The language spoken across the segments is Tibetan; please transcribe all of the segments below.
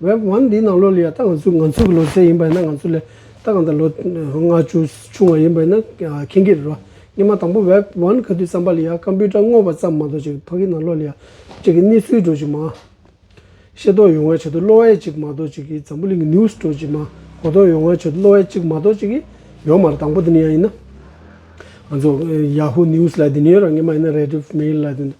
Web One འདིའི་ནང་ལོ་ལ་ཡང་ད་ང་ཚོས་ང་ཚོ་གི་ལོ་ཚད་ཡིན་པ་ཡིན་ན་ང་ཚོ་ལས་ད་གང་ལྟར་ལོ་ལྔ་བཅུ་ཆུང་བ་ཡིན་པ་ཡིན་ན་མཁྱེན་གྱི་རེད་རོ། སྙེ་མ་དང་པོ Web One ག་དུས་བརྩམས་པ་ལ་ཡང Computer སྔོག་པ་ཙམ་མ་གཏོགས་ཅིག་ཕ་གི་ནང་ལོ་ལ་ཡང་ཅིག་གི་གནས་ཚུལ་སྒྲོག་ཅིག་མ། ཤེས་རྟོགས་ཡོང་བའི་ཆེད་དུ་གློ་བའི་ཅིག་མ་གཏོགས་ཅིག་གི་འཛམ་བུ་གླིང་གི News སྒྲོག་ཅིག་མ་གོ་རྟོགས་ཡོང་བའི་ཆེད་དུ་གློ་བའི་ཅིག་མ་གཏོགས་ཅིག་གི་ཡོད་མ་རེད་དང་པོ་དེ་ནི་ཡང་ཡིན་ན། ང་ཚོ Yahoo News ལ་དེ་ནི་ཡོད་ར་སྙེ་མ་ཡིན་ན Rediff Mail ལ་དེ་ནི་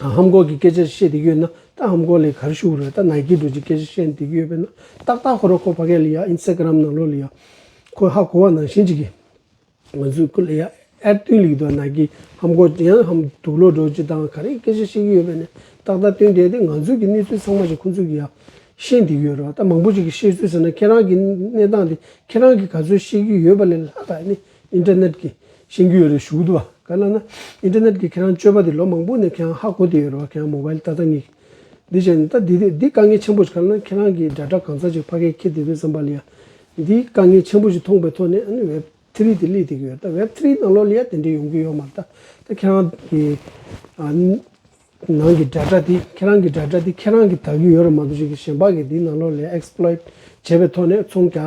ཧམ་གོག་གི་སྐད་ཆར་བཤད་དེ་ཡོད་ན་ད་ཧམ་གོག་ལས་གར་ཞུགས་རོད་ད་ནཱ་ཀི་འགྲོ་ཅིག་སྐད་ཆ་བཤད་དེ་ཡོད་པས་ན་ཏག་ཏག་ཧོ་རོ་ཁོ་བྷ་གས་ལི་ཡ Instagram ནང་ལོ་ལི་ཡ་ཁོ་ཧ་གོ་བ་ནང་བཞིན་ཅིག་གིས་ང་ཚོའི་ཁོ་ལི་ཡ་ཨར་བསྟུན་ལིག་འདུག་ནཱ་ཀི་ཧམ་གོག་ཅིག་ཡང་ཧམ་དུག་ལོ་འགྲོ་ཅིག་དང་ག་རེ་སྐད་ཆ་བཤད་ཀྱི་ཡོད་པས་ན་ཏག་ཏག་བསྟུན་བསྡད་དེ་ང་ཚོས་ཀྱི་གནས་ཚུལ་ཚང་མ་ཞིག་ཁོ་ཚོས་ཀྱི་ཡང་ཤེས་དེ་ཡོད་རོ་ད་མང་པོ་ཅིག་གིས་བཤད་ཚུལ་ཟེར་ན་ཁྱེད་རང་གི་གནས་སྟངས་དེ་ཁྱེད་རང་གིས་ག་ཚོད་ཤེས་ཀྱི་ཡོད་པ་ལས་ལྷ་དག་ནི Internet གི་ཤེས་རྒྱུ་ཡོད་རེད་ཞུ་གི་འདུག་བ་ག་ལ་ན Internet གི་ཁྱེད་རང་སྤྱོད་པ་དེ་ལོ་མང་པོ་ནས་ཁྱེད་རང་ཧ་གོ་དེ་ཡོད་རེད་བ་ཁྱེད་རང Mobile ལྟ་ལྟ་ངེས་འདི་བྱས་ནས་ལྟ་འདི་འདི་དཀའ་ངལ་ཆེན་པོ་ཞིག་ག་ལ་ན་ཁྱེད་རང་གི་སྒྲ་སྒྲ་གང་ཚ་ཅིག་ཕ་གས་ཁྱེད་དེ་བས་བསམ་པ་ལི་ཡ་འདི་དཀའ་ངལ་ཆེན་པོ་ཞིག་མཐོང་པའི་ཐོག་ནས་ཨ་ནི Web Three དེ་གླེགས་དེ་གི་ཡོད་རེད་ད Web Three ནང་ལོ་ལི་ཡ་དེ་འདྲས་ཡོང་གི་ཡོད་མ་རེད་ད་ད་ཁྱེད་རང་གི་ནང་གི་སྒྲ་སྒྲ་དེ་ཁྱེད་རང་གི་སྒྲ་སྒྲ་དེ་ཁྱེད་རང་གི་དག་གི་ཡོད་རེད་མ་གཏོགས་གཞན་པ་གི་དེ་ནང་ལོ་ལི་ཡ Exploit བྱས་པའི་ཐོག་ནས་ཚོང་རྒྱ་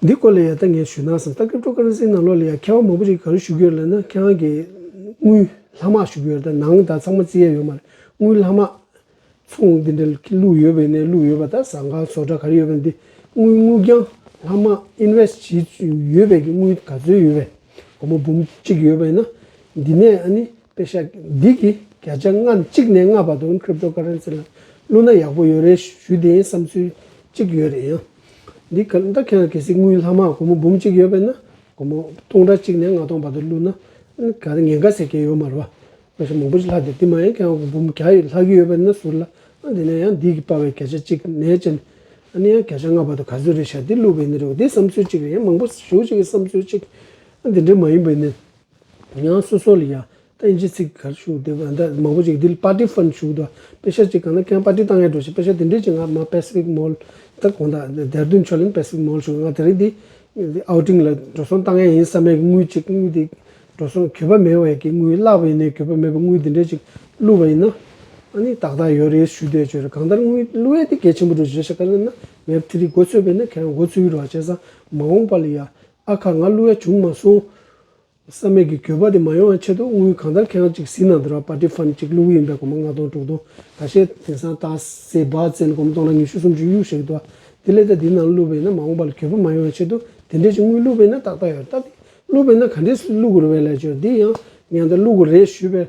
འདི་སྐོར་ལ་ཡང་ད་ངས་ཞུས་གནང་སོང་ད་སྐབས་ཀྲོ་ཀར་སིའི་ནང་ལོགས་ལ་ཡང་མཁས་དབང་མང་པོ་ཞིག་ག་རེ་ཞུ་གི་ཡོད་ལབ་ན་ཁྱེད་རང་གི་དངུལ་ལྷག་དམག་ཞུ་གི་ཡོད་ད་ནང་ད་ཚང་མ་རྩིས་ཡས་ཡོད་མ་རེད་དངུལ་ལྷག་དམག་ཚོང་འདི་འདྲ་བླུག་ཡོད་པའི་ནས་བླུག་ཡོད་པ་ད་ཟངས་ཁང་བཟོ་གྲ་ག་རེ་ཡོད་པ་འདི་དངུལ་དངུལ་རྒྱང་ལྷག་དམག invest བྱས་ཡོད་པའི་གི་དངུལ་ག་ཚོད་ཡོད་པའི་སྒོར་མོ་འབུམ་གཅིག་ཡོད་པའི་ན་འདི་ནས་ཨ་ནི་པའི་ཤ་འདི་གིས་བརྒྱ་ཆ་ལྔ་གཅིག་ནས་ལྔ་བར་དུ Cryptocurrency ལ་བླུ་ན་ཡག་པོ་ཡོད་རེད་ཞུས་དེ་བསམ་ཚུལ་གཅིག་ཡོད་རེད་ཡང་འདི་ག་ད་ཁྱེད་རང་གེ་སའི་དངུལ་ལྷག་མ་སྒོར་མོ་འབུམ་གཅིག་ཡོད་པས་ན་སྒོར་མོ་སྟོང་ཕྲག་གཅིག་ནས་ལྔ་སྟོང་བར་དུ་བླུ་ན་ག་ད་ཉེན་ཁ་ཟེར་མཁན་ཡོད་མ་རེད་བ། དངོས་སུ་མང་པོ་ཞིག་ལྷག་འདུག་དེ་མ་ཡིན་ཁྱེད་རང་འབུམ་བརྒྱ་ཡིས་ལྷག་གི་ཡོད་པས་ན་ཟུར་ལ་ཨང་དེ་ནས་ཡང་འདི་གིས་སྤར་བའི་བརྒྱ་ཆ་གཅིག་ནས་བཅད་ནས་ཨ་ནི་ཡང་བརྒྱ་ཆ་ལྔ་བར་དུ་ག་ཚོད་རེད་ཤ་འདི་བླུ་བས་ནི་རེད་བ་དེ་བསམ་ཚུལ་གཅིག་རེད་ཡང་མང་པོ་ཞིག་གིས་བསམ་ཚུལ་གཅིག་ཨང་དེ་འདྲས་མ་ཡིན་པས་ནི། ཡང་སོ་སོ་ལ་ཡང་བསྟན་གྱི་ཚིག་གར་ཞུགས་ཏེ་བན་དེ་མང་པོ་ཅིག་འདི་ལ་པར་ཏི་ཧྥན་ཞུགས་དུ་དཔེ་ཤ་ཅིག་གང་ན་ཁན་པར་ཏི་ཏང་ཡར་འགྲོ་ཞིག་དཔེ་ཤ་དེ་འདྲའི་ཅིག་ང་མ་པེ་སི་ཕིག་མོལ་དང་གོང་ད་དེར་དུན་ཆོ་ལིན་པེ་སི་ཕིག་མོལ་ཞུགས་ང་དེ་རིང་འདི་ཨའོ་ཏིང་ལ་འགྲོ་སོང་ཏང་ཡར་ཡིན་བསམ་མེད་ཀྱི་དངུལ་ཅིག་དངུལ་དེ་འགྲོ་སོང་གྱོད་པ་མེད་བ་ཡིན་ཀྱི་དངུལ་བརླག་པ་ཡིན་ནའི་གྱོད་པ་མེད་པའི་དངུལ་དེ་འདྲའི་ཅིག་བསླུ་བ་ཡིན་ན་ཨ་ནི་ཏག་ཏག་ཡོད་རེད་ཞུ་བསྡད་བྱོས་རེད་གང་ལྟར་དངུལ་བསླུ་བས་དེ་གལ་ཆེན་པོ་འགྲོ་བཞེས་ཤ་ཀ་ལེན་ན་མེད་པ་དེ་རིགས་འགོ་ཚུགས་པས་ན་ཁན་འགོ་ཚུགས་ཡུལ་བ་བྱས་ཙང་མ་འོངས་པ་ལ་ཡང་ཨ་ཁ་ང་གླུ་བས་བྱུང་མ་སོང། བསམ་མེད་ཀྱི་གྱོད་པ་དེ་མ་ཡོང་བའི་ཆེད་དུ་དངུལ་གང་ལྟར་ཁེང་གཅིག་བཟི་ན་འདོད་ར་པ་ཏི་ཧྥན་གཅིག་གླུ་བུ་ཡིན་པའི་གོ་མ་ལྔ་སྟོང་དྲུག་སྟོང་ད་ཤེས། དེང་སང་ཏག་སེ་བག་ཙེ་ལ་གོ་མ་སྟོང་ལ་ཉི་ཤུ་སུམ་ཅུ་གཡུག་བཞིན་འདུག་དེ་ལས་ད་འདི་ནང་གླུ་བས་ན་མ་འོངས་པ་ལ་གྱོད་པ་མ་ཡོང་བའི་ཆེད་དུ་དེ་འདྲའི་ཆུ་དངུལ་གླུ་བས་ན་ཏག་ཏག་ཡོད་ད་དེ་གླུ་བས་ན་ག་འདྲའི་གླུ་གུ་རུ་བས་ལས་བྱོས་འདི་ཡང་ངས་ད་གླུ་གུ་རེད་ཞུས་པས།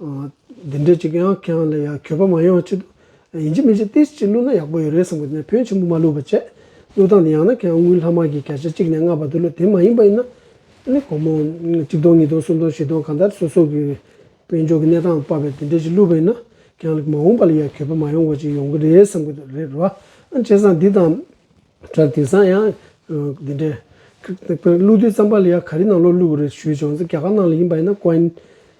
འདི་འདྲའི་གཅིག་ཡང་ཁྱེད་རང་ལ་ཡང་གྱོད་པ་མ་ཡོང་ཆེད་དུ་ཡིན་གཅིག་མིན་གཅིག་ཏིས་གཅིག་བསླུས་ན་ཡག་པོ་ཡོད་རེད་བསམ་གི་ནས་བོན་ཆེན་པོ་མ་བསླུས་པ་བྱས། བསླུ་སྟངས་འདི་ཡང་ན་ཁྱེད་རང་དངུལ་ལྷག་མ་གིས་བརྒྱ་ཆ་གཅིག་ནས་ལྔ་བར་དུ་བསླུས་དེ་མ་ཡིན་པ་ཡིན་ན། ནི་གོང་མོ། གཅིག་སྟོང་གཉིས་སྟོང་གསུམ་སྟོང་བཞི་སྟོང་གང་ལྟར་སོ་སོ་གི་དཔལ་འབྱོར་གི་གནས་སྟངས་སྤར་བས་འདི་འདྲའི་གཅིག་བསླུས་པ་ཡིན་ན་ཁྱེད་རང་ལ་མ་འོངས་པ་ལ་ཡང་གྱོད་པ་མ་ཡོང་བ་ཅིག་ཡོང་གི་རེད་བསམ་གི་རེད་རོ། བྱས་ཙང་འདི་དང། དྲག་དེང་སང་ཡང། འདི་འདྲའི། བསླུ་དུས་བརྩམས་པ་ལ་ཡང་ག་རེ་གནང་ལོ་བསླུས་བ་རེད་ཞུས་བྱུང་ཙང་རྒྱ་གར་ནང་ལ་ཡིན་པ་ཡིན་ན་ཀོ་ཨིན།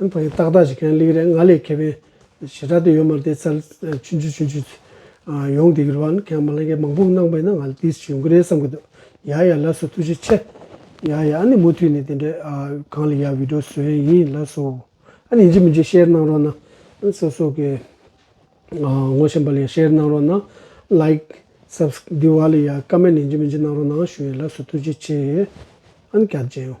ཨན་ཐང་གི་ཏག་ཏག་ཞིག་གན་ལིག་རེད་ང་ལས་ཁེ་ཕན་ཞེ་དྲག་དེ་ཡོད་མ་རེད་དེ་ཚར་ཆུན་ཆུན་ཆུན་ཆུན་ཡོང་དེ་གི་རུ་བ་ཁན་མ་ལན་ཁན་མང་པོ་གནང་པའི་ན་ང་ལ་དེ་ཞིག་ཡོང་གི་རེད་བསམ་གི་འདུག་ཡ་ཡ་ལ་སོ་ཐུགས་རྗེ་ཆེ། ཡ་ཡ་ཨ་ནི་མུ་མཐུད་ནས་དེ་འདྲའི་གང་ལ་ཡ་བིད་འགྲོ་བཟོ་ཡ་ཡིན་ལ་སོ། ཨ་ནི་ཇི་མི་ཇི་ཤེར་གནང་རོགས་གནང་ཨ་སོ་སོ་གི་ངོ་ཤེས་པ་ལ་ཡ་ཤེར་གནང་རོགས་གནང་ལཱིག་སབས་འདི་བ་ལ་ཡ་ཀ་མེན་ནས་ཇི་མི་ཇི་གནང་རོགས་གནང་ཞུ་ཡ་ལ་སོ་ཐུགས་རྗེ་ཆེ། ཨ་ནི་སྐྱབས་བཅས་ཡོང།